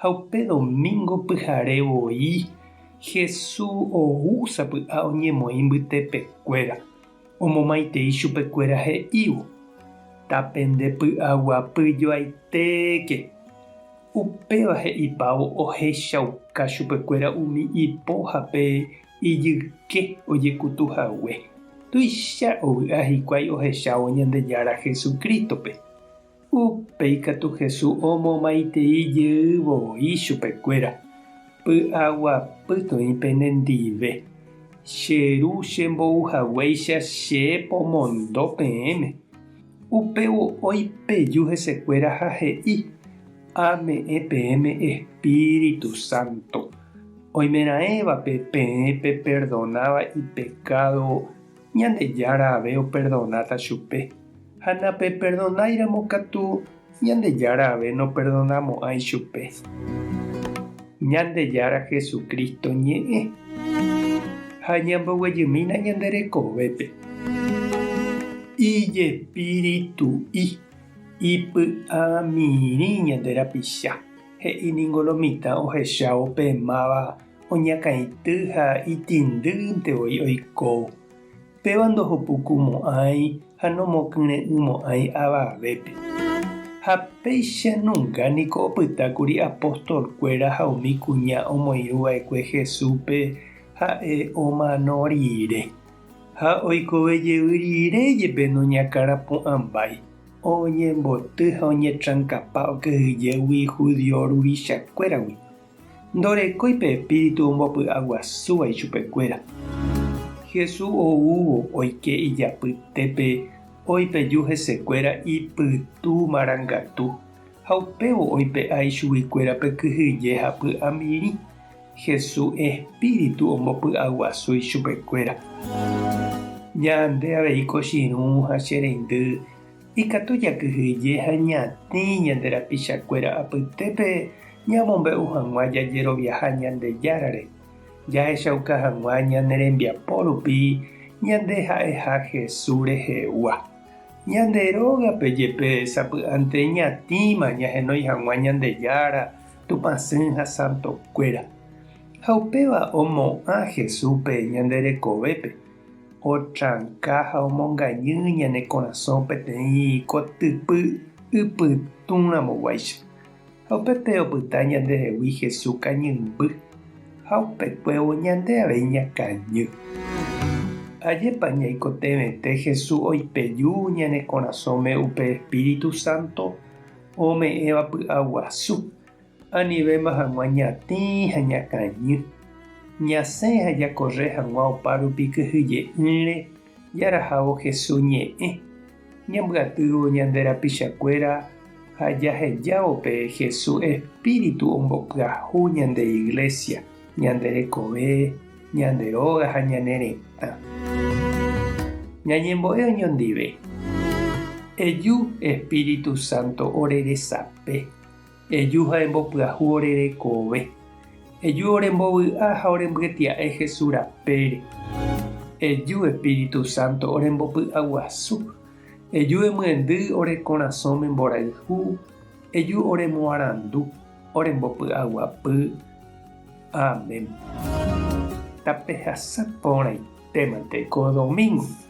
Ha upe domingo pyhare voi Jesús ou sapy'a oñemoĩ mbytepekuéra, omomaitei chupekuéra he'ívo, Ta pende py'aguapy joaitéke! Upéva he'ipávo ohechauka chupekuéra umi ipoha pe ijyke ojekutu hague. Tuicha ovy'a hikuái ohechávo Ñandejára Jesucristo-pe. Upe ikatu Hesu omomaitei jeývo voi chupekuéra, Py'aguapytoĩ pene ndive, che Ru chembouhaguéicha che pomondo peẽme. Upévo oĩ peju hesekuéra ha he'i, Ame'ẽ peẽme Espíritu Santo. Oimeraẽvape peẽ peperdonáva ipekádo Ñandejára ave operdonáta chupe, ha napeperdonáiramo katu Ñandejára ave noperdonamo'ãi chupe. Ñandejára Jesucristo ñe'ẽ ha ñamboguejymína ñande rekovépe. Ijespiritu'i ipy'amirĩ ñande rapicha, he'i ningo lo mitã ohechávo pe máva Oñakãity ha itĩndýnte voi oiko. Péva ndohopuku mo'ãi ha nomokyre'ỹ mo'ãi avavépe. Ha péicha nunka niko opyta kuri apóstol kuéra ha umi kuña omoirũ vaekue Jesúspe ha'e omano rire. Ha oikove jevy rire jepe noñakãrapu'ãmbái, oñemboty ha oñetrankapa okyhyjégui judío ruvicha kuéragui. Ndorekói pe espíritu ombopy'aguasúva ichupekuéra. Hesu oúvo oike ijapytépe oipeju hesekuéra ipytu marangatu, ha upévo oipe'a ichuguikuérape kyhyje ha py'amirĩ. Hesu espíritu ombopy'aguasu ichupekuéra. Ñande avei kochirũ ha che reindy. Ikatu jakyhyje ha ñatĩ ñande rapichakuéra apytépe ñamombe'u hag̃ua jajeroviaha Ñandejárare, jahechauka hag̃ua ñane rembiapo rupi ñande ha'eha Jesús rehegua. Ñande rógape jepe sapy'ante ñatĩma ñahenói hag̃ua Ñandejára, Tupã Sỹ ha santokuéra. Ha upéva omo'ã Jesúspe ñande rekovépe. Otranka ha omongañy ñane korasõ peteĩ kotypy ipytũramoguáicha, ha upépe opyta ñandehegui Hesu kañymby, ha upekuévo ñande avei ñakañy. Ajépa ñaikotevẽte Hesu oipeju ñane korasõme upe Espíritu Santo ome'ẽva py'aguasu! Anivéma hag̃ua ñatĩ ha ñakañy, ñasẽ ha jakorre hag̃ua opárupi kyhyje'ỹre jarahávo Jesús ñe'ẽ. Ñambyatývo ñande rapichakuéra ha jahejávo pe Jesús espíritu ombopyahu ñande iglésia, ñande rekove, ñande róga ha ñane retã. Ñañembo'e oñondive. Eju espíritu sánto ore resape. Eju ha embopyahu ore rekove. Eju orembovy'a ha orembyetia'e Hesu rapére. Eju Espíritu Santo orembopy'aguasu. Eju emyendy ore korasõme mborayhu. Eju oremoarandu, orembopy'aguapy. Amén. Tapehasa porãitémante ko domingo.